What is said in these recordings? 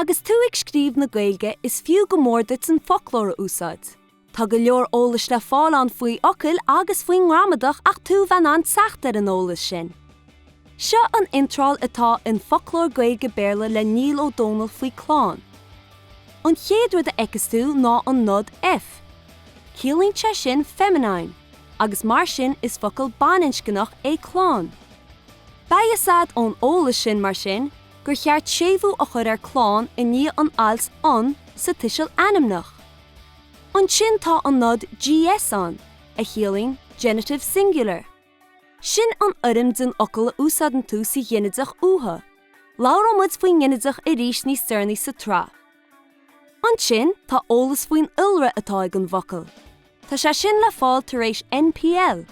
Agus tú ag scríobh na Gaeilge is fiú go mór duit an foclóir a úsáid. Tá go leor eolais le fáil ann faoi fhocail agus faoin ngramadach ach tú bheith in ann teacht ar an eolas sin. Seo an iontráil atá in Foclóir Gaeilge-Béarla le Niall Ó Dónaill faoi chlann. An chéad rud a fheiceas tú ná an nod F. Ciallaíonn sé sin feminine, agus mar sin is focal baininscneach é chlann. Beidh a fhios agat ón eolas sin mar sin gur cheart séimhiú a chur ar chlann i ndiaidh an ailt an sa tuiseal ainmneach. Ansin tá an nod GS ann, a chiallaíonn genitive singular. Sin an fhoirm den fhocal a úsáideann tú sa ghinideach uatha. Labhróimid faoin nginideach arís níos deireanaí sa tsraith. Ansin, tá eolas faoin iolra atá ag an bhfocal. Tá sé sin le fáil tar éis NPL,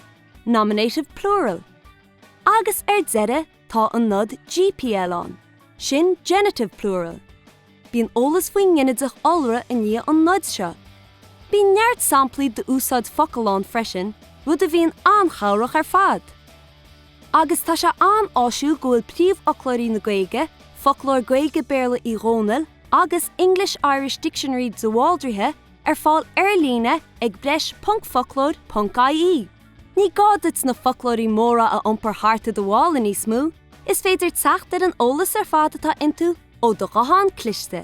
nominative plural, agus, ar deireadh, Tá an nod gpl ann, sin genitive plural. Bíonn eolas faoin nginideach iolra i ndiaidh an noid seo. Bíonn neart samplaí d'úsáid focal ann freisin, rud a bhíonn an-chabhrach ar fad. Agus tá sé an-áisiúil go bhfuil príomhfhoclóirí na Gaeilge, Foclóir Gaeilge-Béarla Uí Dhónaill agus English-Irish Dictionary de Bhaldraithe, ar fáil ar-líne ag breis ponc foclóir ponc ie. Ní gá duit na foclóirí móra a iompar thart i do mhála níos mó, is féidir teacht ar an eolas ar fad atá iontu ó do ghuthán cliste.